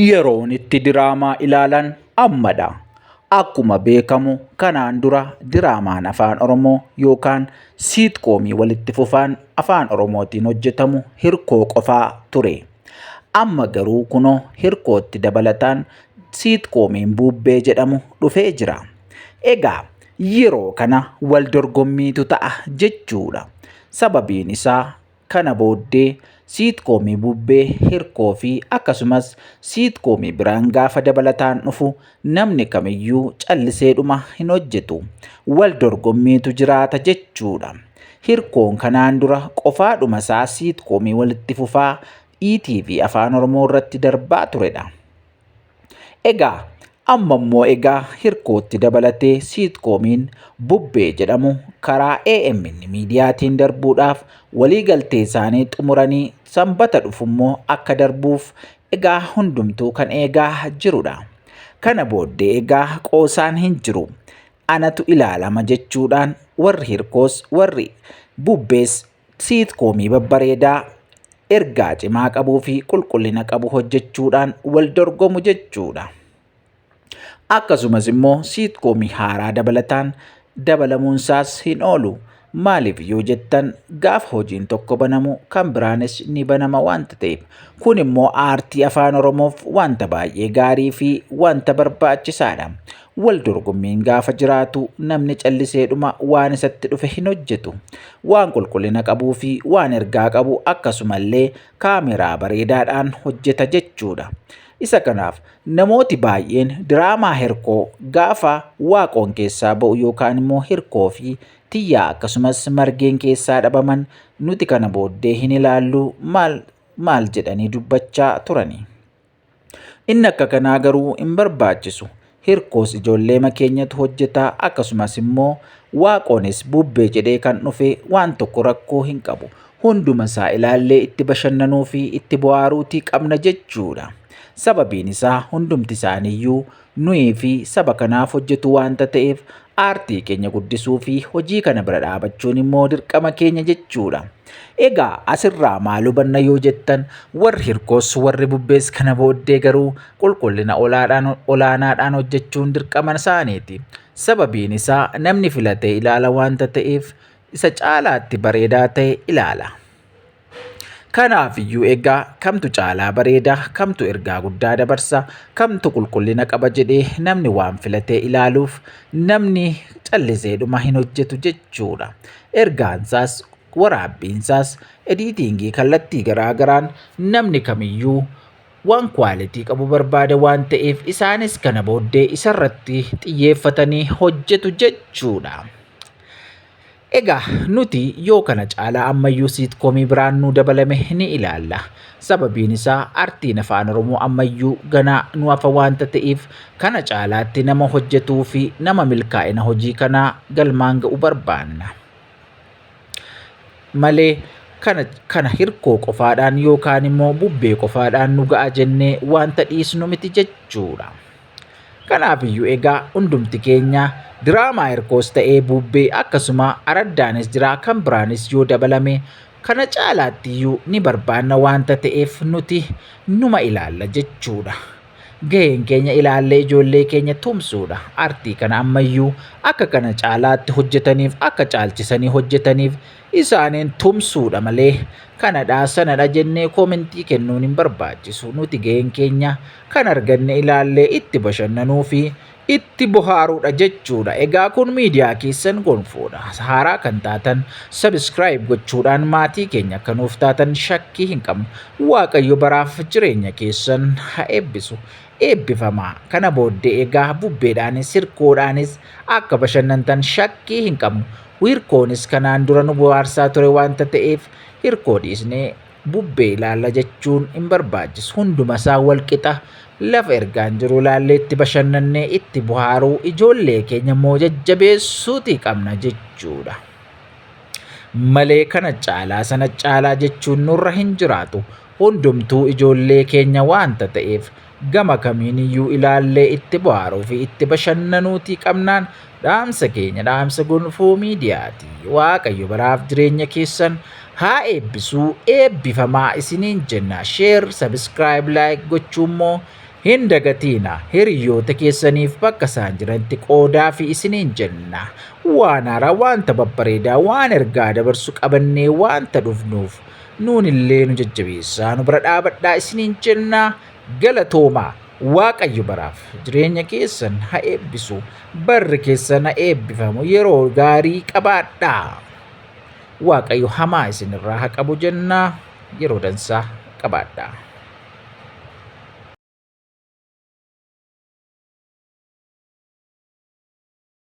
Yeroon itti diraamaa ilaalan ammadha. Akkuma beekamu kanaan dura diraamaan afaan Oromoo yookaan siitkoomii walitti fufaan afaan Oromootiin hojjetamu hirkoo qofaa ture. Amma garuu kunoo hirkootti dabalataan siitkomiin buubbee jedhamu dhufee jira. Egaa yeroo kana wal dorgommiitu ta'a jechuudha. Sababiin isaa Kana booddee siitkoomii bubbee, hirkoo fi akkasumas siitkoomii biraan gaafa dabalataan dhufu namni kamiyyuu calliseedhuma hin hojjetu. Wal dorgommiitu jiraata jechuudha. Hirkoon kanaan dura qofaadhuma isaa siitkoomii walitti fufaa ETV Afaan Oromoo irratti darbaa turedha. Egaa amma immoo egaa hirkootti dabalatee siitkoomiin bubbee jedhamu karaa AMN miidiyaatiin darbuudhaaf walii galtee isaanii xumuranii sanbata dhufu immoo akka darbuuf egaa hundumtuu kan eegaa jirudha. Kana booddee egaa qoosaan hin jiru. Anatu ilaalama jechuudhaan warri hirkoos warri bubbees Siitkoomii babbareedaa ergaa cimaa qabuu fi qulqullina qabu hojjechuudhaan wal dorgomu jechuudha. Akkasumas immoo siitkoomii haaraa dabalataan dabalamuunsaas hin oolu. Maaliif yoo jettan gaafa hojiin tokko banamu kan biraanis ni banama wanta ta'eef. Kun immoo aartii afaan Oromoof wanta baay'ee gaarii fi wanta barbaachisaadha. Wal dorgommiin gaafa jiraatu namni calliseedhuma waan isatti dhufe hin hojjetu. Waan qulqullina qabuu fi waan ergaa qabu akkasumallee kaameraa bareedaadhaan hojjeta jechuudha. Isa kanaaf namooti baay'een diraamaa hirkoo gaafa waaqoon keessaa ba'u yookaan immoo hirkoo fi tiyyaa akkasumas margeen keessaa dhabaman nuti kana booddee hin ilaallu maal maal jedhanii dubbachaa turani. Inni akka kanaa garuu hin barbaachisu. Hirkoos ijoolleema keenyatu hojjetaa akkasumas immoo waaqoonis bubbee jedhee kan dhufe waan tokko rakkoo hin qabu. Hunduma isaa ilaallee itti bashannanuu fi itti bohaaruutii qabna jechuudha. Sababiin isaa hundumti isaaniiyyuu nuyi fi saba kanaaf hojjetu waanta ta'eef aartii keenya guddisuu fi hojii kana bira dhaabachuun immoo dirqama keenya jechuudha. Egaa asirraa maal hubanna yoo jettan warri hirkoos warri bubbees kana booddee garuu qulqullina olaadhaan- olaanaadhaan hojjechuun dirqama isaaniiti. Sababiin isaa namni filatee ilaala waanta ta'eef isa caalaatti bareedaa ta'e ilaala. Kanaaf iyyuu egaa kamtu caalaa bareeda, kamtu ergaa guddaa dabarsa, kamtu qulqullina qaba jedhee namni waan filatee ilaaluuf namni calliseedhuma hin hojjetu jechuudha. Ergaansaas waraabbiinsaas ediitiingii kallattii garaa garaan namni kamiyyuu waan kwaalitii qabu barbaada waan ta'eef isaanis kana booddee isarratti xiyyeeffatanii hojjetu jechuudha. Egaa nuti yoo kana caalaa ammayyuu siitkoomii biraan nuu dabalame ni ilaalla. Sababiin isaa artiin afaan Oromoo ammayyuu ganaa nu hafa waanta ta'eef kana caalaatti nama hojjetuu fi nama milkaa'ina hojii kanaa galmaan ga'u barbaanna. Malee kana, kana hirkoo qofaadhaan yookaan immoo bubbee qofaadhaan nu ga'a jennee waanta dhiisnu miti jechuudha. Kanaafiyyuu egaa hundumti keenya diraamaa hirkoos ta'ee buubbee akkasuma araddaanis jira kan biraanis yoo dabalame kana caalaattiyyuu ni barbaanna waanta ta'eef nuti numa ilaalla jechuudha. Gaheen keenya ilaallee ijoollee keenya tumsuudha. Artii kana ammayyuu akka kana caalaatti hojjetaniif akka caalchisanii hojjetaniif isaaniin tumsuudha malee kanadha sanadha jennee koomentii kennuun hin barbaachisu nuti ga'een keenya kan arganne ilaallee itti bashannanuu fi itti bohaaruudha jechuudha egaa kun miidiyaa keessan gonfoodha haaraa kan taatan sabiskiraayib gochuudhaan maatii keenya akka nuuf taatan shakkii hin qabnu waaqayyo baraaf jireenya keessan ha eebbisu Eebbifamaa! Kana booddee egaa bubbeedhaanis hirkoodhaanis akka bashannantan shakkii hin qabnu. Hirkoonis kanaan dura nu bohaarsaa ture waanta ta'eef hirkoo dhiisnee bubbee ilaalla jechuun hin barbaachisu. Hundumasaa walqixa lafa ergaan jiru ilaallee itti bashannannee itti bohaaruu ijoollee keenya immoo jajjabeessuutii qabna jechuudha. Malee kana caalaa sana caalaa jechuun nurra hin jiraatu. Hundumtuu ijoollee keenya waanta ta'eef gama kamiiniyyuu ilaallee itti bohaaruu fi itti bashannanuutii qabnaan dhaamsa keenya dhaamsa gonfoo miidiyaati. Waaqayyo baraaf jireenya keessan haa eebbisuu eebbifamaa isiniin jenna. Sheer, sabiskiraayib, laayik gochuu immoo hin dagatiina. Hiriyoota keessaniif bakka isaan jiranitti qoodaa fi isiniin jenna. Waan haaraa, waanta babbareedaa, waan ergaa dabarsu qabannee waanta dhufnuuf. nuunillee nu jajjabeessaa nu bira dhaabadhaa isiniin jenna galatoomaa waaqayyo baraaf jireenya keessan ha eebbisu barri keessan ha eebbifamu yeroo gaarii qabaadhaa waaqayyo hamaa isinirraa ha qabu jenna yeroo dansaa qabaadhaa.